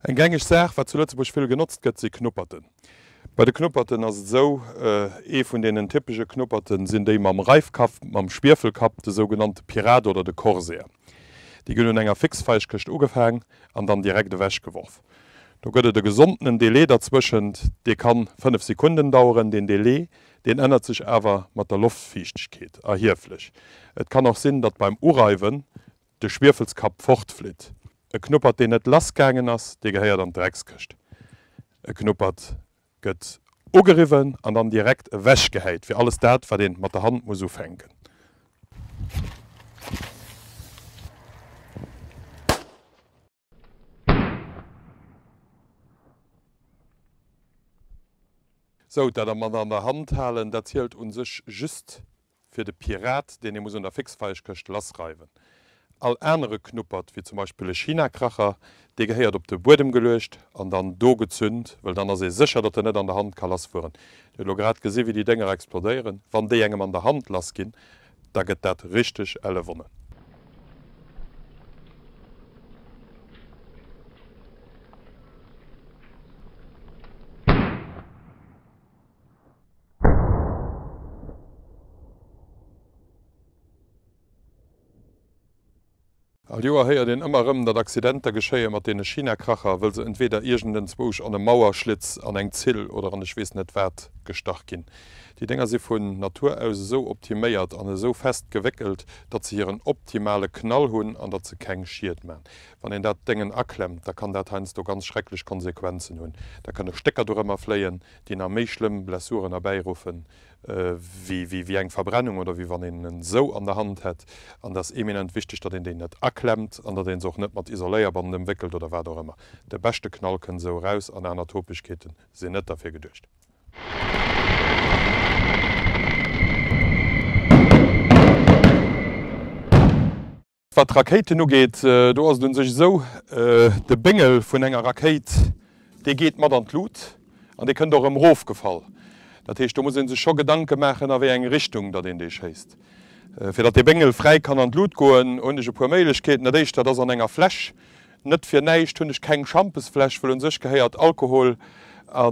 Eng gängeg Saach, wat zu Lëtzebuerg vill genotzt gëtt, si Knupperten. Bei de Knupperten ass et esou, ee vun deenen typesche Knupperte sinn déi mam Reifkapp, mam Schwiefelkapp, de sougenannte Pirat oder de Corsair. Déi gëtt un enger Fixfeichkëscht ugefaang an dann direkt ewech geworf. Do gëtt et e gesondenen Delai derzwëschent, dee kann 5 Sekunden daueren. Deen Delai, deen ännert sech awer mat der Loftfiichtegkeet erhieflech. Et kann och sinn, datt beim Ureiwen de Schwiefelskapp fortflitt. E Knuppert deen net lass gaangen ass, dee gehéiert an d'Dreckskëscht. E Knuppert Gëtt ugeriwwen an dann direkt ewech gehäit fir alles dat wat een mat der Hand muss ufänken. Sou, dat mat an der Hand halen dat zielt un sech just fir de Pirat, deen ee muss un der Fixfeichkëscht lassreiwen. All anere Knuppert, wéi zum Beispill e Chinakracher, dee gehéiert op de Buedem geluecht an dann do gezünt, wëll dann ass ee sécher, datt en net an der Hand ka lassfueren. Dir hutt elo grad gesi wéi déi Dénger explodéieren. Wann déi engem an der Hand lassginn, da gëtt dat richteg elle Wonne. All Joer héiert een ëmmer erëm, datt Accidenter geschéie mat deene China-Kracher, wëll se entweeder iergendenzwousch an e Mauerschlitz, an eng Zill oder an ech weess net wat gestach ginn. Déi Dénger si vun Natur aus esou optiméiert an esou fest gewéckelt, datt se hiren optimale Knall hunn an datt se keng Schied man. Wann een dat Déngen aklemmt, da kann dat heiansdo ganz schrecklech Konsequenzen hunn. Da kënne Stécker dorëmmer fléien. déi nach méi schlëmm Blessuren erbäiruffen, wéi eng Verbrennung oder wéi wann een en esou an der Hand hätt. An et ass eminent wichteg, datt een déi net aklemmt an datt ee se och net mat Isoléierband ëmwéckelt oder wat och ëmmer. De beschte Knall kënnt esou eraus an aner Topegkeete sinn net derfir geduecht. Wat d'Rakéiten ugeet, do ass et un sech esou, de Béngel vun enger Rakéit, dee geet mat an d'Lut an dee kënnt och erëm erofgefall. Dat heescht, do muss ee sech scho Gedanke maachen, a wéi eng Richtung datt een dee schéisst. Fir datt dee Béngel fräi kann an d'Lut goen, hunn ech e puer Méiglechkeeten. Dat éischt, dat ass an enger Fläsch. Net fir näischt hunn ech keng Schampesfläsch, wëll un sech gehéiert Alkohol a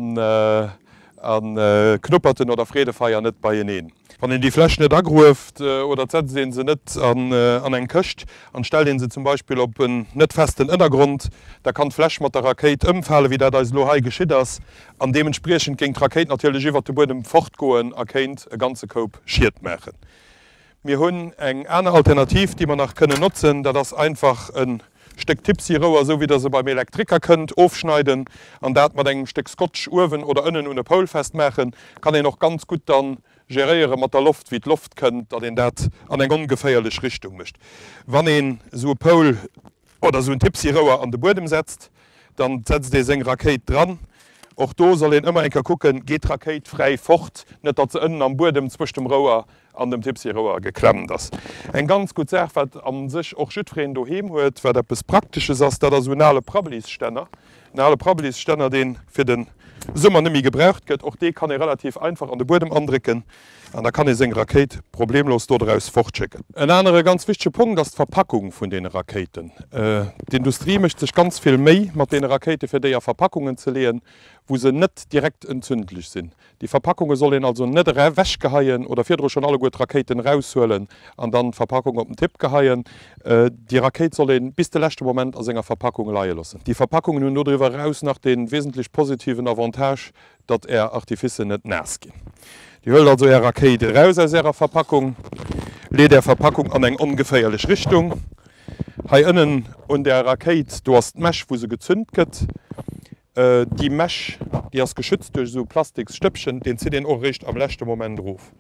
Knupperten oder Freedefeier net beieneen. Wann een déi Fläsch net agrueft oder et setzt een se net an eng Këscht an stellt een se zum Beispill op en net festen Ënnergrond, da kann d'Fläsch mat der Rakéit ëmfale wéi dat eis elo hei geschitt ass an deementspriechend géing d'Rakéit natierlech iwwert de Buedem fortgoen a kéint e ganze Koup Schied maachen. Mir hunn eng aner Alternativ déi mer nach kënnen notzen, dat ass einfach e Stéck Tipsy Rouer, sou wéi der se beim Elektriker kënnt, ofschneiden an dat mat engem Stéck Scotch uewen oder ënnen un e Poul festmaachen. Kann een och ganz gutt dann geréiere mat der Loft, wéi d'Loft kënnt, datt een dat an eng ongeféierlech Richtung mécht. Wann een sou e Poul oder sou en Tipsy Rouer an de Buedem setzt, dann setzt ee seng Rakéit dran. Och do soll een ëmmer eng Kéier kucken, geet d'Rakéit fräi fort, net datt se ënnen am Buedem zwëscht dem Rouer an dem Tipsy-Rouer geklemmt ass. Eng ganz gutt Saach, wat a sech och jiddwereen doheem huet, wat eppes Praktesches ass, dat ass esou en ale Prabbeliststänner. En ale Prabbeliststänner, dee fir de Summer net méi gebraucht gëtt. Och dee kann ee relativ einfach an de Buedem andrécken an da kann ee seng Rakéit problemlos do draus fortschécken. En anere ganz wichtege Punkt ass d'Verpackung vun deene Rakéiten. D'Industrie mécht sech ganz vill Méi mat deene Rakéiten, fir déi a Verpackungen ze leeën, wou se net direkt entzündlech sinn. Déi Verpackunge soll een also net ewechgeheien oder virdru schonn alleguer d'Rakéiten eraushuelen an dann d'Verpackung op den Tipp geheien. Déi Rakéit soll ee bis de leschte Moment a senger Verpackung leie loossen. Déi Verpackungen hunn dodriwwer eraus nach dee wesentlech positiven Avantage, datt Är Artificen net naass ginn. Dir huelt also Är Rakéit eraus aus Ärer Verpackung, leet Är Verpackung an eng ongeféierlech Richtung. Hei ënnen un der Rakéit, do ass d'Mech, wou se gezünt gëtt. Déi Mesh déi ass geschützt duerch esou Plastiks Stëppchen, deen zitt een och eréischt am leschte Moment erof.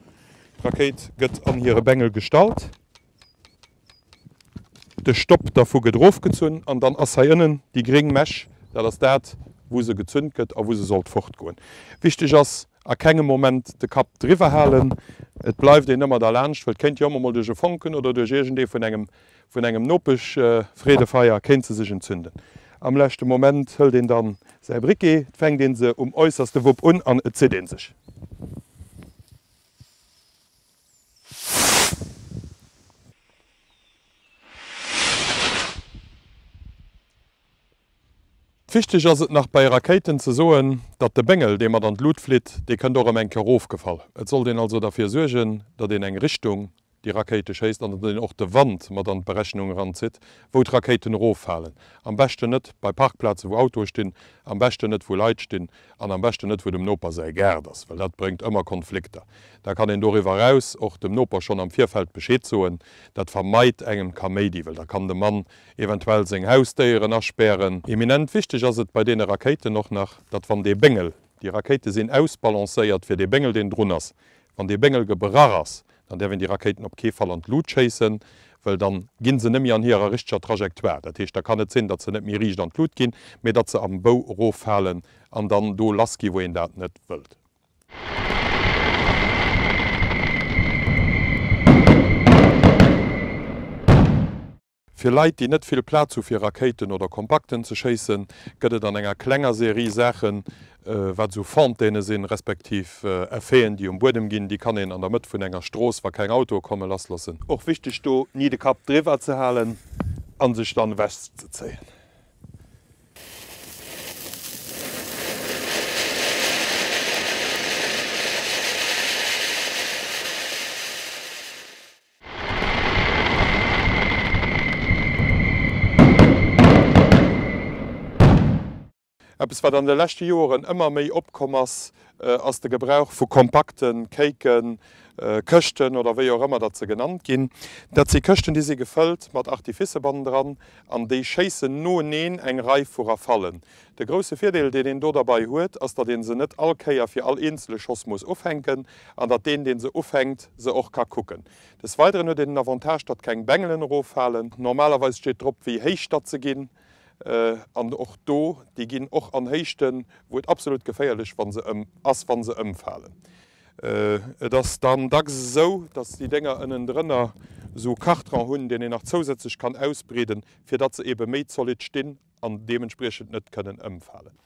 D'Rakéit gëtt an hire Bengel gestallt, de Stopp dervu gëtt erofgezunn an dann ass hei ënnen déi gréng Mesh, dat ass dat wou se gezünt gëtt a wou se sollt fortgoen. Wichteg ass, a kengem Moment de Kapp driwwer halen, et bleift een ëmmer derlaanscht, well et kéint jo ëmmer mol duerch e Fonken oder duerch iergendee vun engem Vun engem Nopeschfreedefeier kéint se sech entzünden. Am leschte Moment hëlt een dann säi Briquet, fänkt een se um äusserste Wupp un an et zitt een sech. Wichteg ass et nach bei Rakéiten ze soen, datt de Béngel, dee mat an d'Lut flitt, dee kënnt och erëm eng Kéier ofgefall. Et sollt een also derfir suergen, datt een eng Richtung déi Rakéite schéisst an dann och de Wand mat an d'Berechnung eranzitt, wou d'Rakéiten eroffalen. Am beschten net bei Parkplaze wou Autoe stinn, am beschten net wou Leit stinn an am beschten net wou dem Noper säi Gaart ass, well dat bréngt ëmmer Konflikter. Da kann een doriwwer eraus och dem Noper schonn am Virfeld Bescheed soen. Dat vermeit engem d'Kaméidi, well da kann de Mann eventuell seng Hausdéieren aspären. Eminent wichteg ass et bei deene Rakéiten och nach, datt wann dee Béngel, déi Rakéite sinn ausbalancéiert fir dee Béngel deen drun ass, wann dee Béngel gebrach ass, Dann däerf een déi Rakéiten op kee Fall an d'Lut schéissen, well dann ginn se net méi an hirer richteger Trajectoire. Dat heescht, da kann et sinn, datt se net méi riicht an d'Lut ginn, mee datt se am Bou eroffalen an dann do lassginn, wou een dat net wëllt. Fir Leit, déi net vill Plaz hu fir Rakéiten oder Kompakten ze schéissen, gëtt et an enger klenger Serie Saachen, wat esou Fontaine sinn, respektiv Effeten, déi um Buedem ginn, déi kann een an der Mëtt vun enger Strooss, wa keng Autoe komme, lassloossen. Och wichteg do, ni de Kapp driwwer ze halen a sech dann ewechzezéien. Eppes wat an de leschte Joeren ëmmer méi opkomm ass, ass de Gebrauch vu kompakten Kéiken, Këschten oder wéi och ëmmer datt se genannt ginn. Dat si Këschten déi si gefëllt mat Artifice bannendran an déi schéissen noeneen eng Rei vu Rafallen. De grousse Virdeel, deen een do derbei huet, ass, datt ee se net all Kéier fir all eenzele Schoss muss ufänken an datt deen, deen se ufänkt, se och ka kucken. Des Weideren huet een den Avantage, datt keng Bengelen eroffalen. Normalerweis steet drop, wéi héich datt se ginn. An och do, déi ginn och an Héichten, wou et absolut geféierlech ass, wa se ëmfalen. Et ass dann dacks esou, datt déi Dénger ënnendrënner esou Kartrong hunn, deen een nach zousätzlech kann ausbreeden, fir datt se ebe méi zolidd stinn. an deementspriechend net kënnen ëmfalen.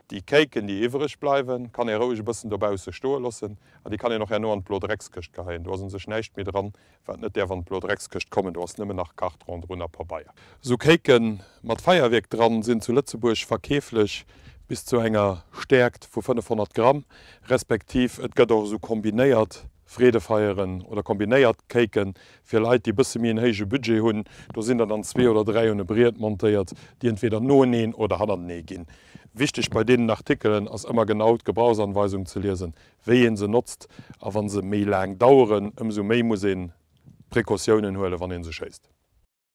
Déi Kéiken, déi iwwereg bleiwen, kann ee roueg e bëssen dobausse stoe loossen an déi kann een och herno an d'Blo Dreckskëscht geheien. Do ass u sech näischt méi dran, Wat net däerf an d'Blodreckskëscht kommen, do ass nëmmen nach Kart ronderun a Pabeier. Sou Kéike mat Feierwierk dran sinn zu Lëtzebuerg verkeeflech bis zu enger Stäerkt vu 500 Gramm, respektiv et gëtt och sou kombinéiert Freedefeieren oder kombinéiert Kéike fir Leit, déi e bësse méi en héije Budget hunn. Do sinn der dann zwee oder dräi un e Briet montéiert, déi entweder noeneen oder hannertenee ginn. Wichteg bei deenen Artikelen ass ëmmer genau d'Gebrauchsanweisung ze liesen, wéi ee se notzt a wa se méi laang daueren, ëmsou méi muss ee Precautiounen huelen, wann ee se schéisst.